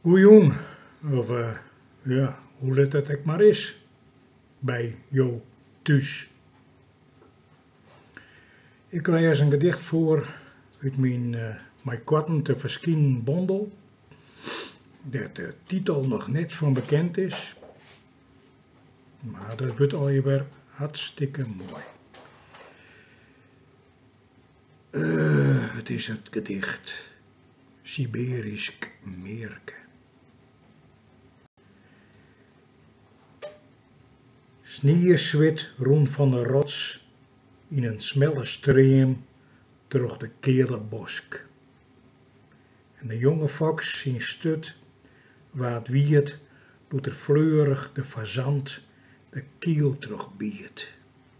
Goejûn, of ja, hoe let it ek mar is by jo thús. Ik lês in gedicht foar út myn mei koarten te ferskinen bondel, dêr't de titel noch net fan bekend is, mar dat wurdt allegear hartstikke moai. Eh, it is it gedicht Siberysk mearke. Snieswit rûn fan 'e rots yn in smelle stream troch de keale bosk. En de jonge foks syn sturt waard wiet doe't er fleurich de fazant de kiel trochbiet.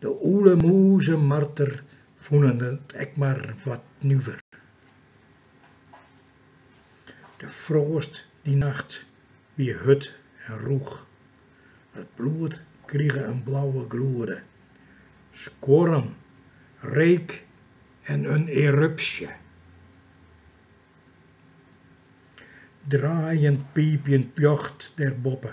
De ûle, mûs en marter fûnen it ek mar wat nuver. De froast dy nacht wie hurd en rûch. It bloed krige in blauwe gloede. Skuorren, reek en in erupsje. Draaiend piipjend ljocht der boppe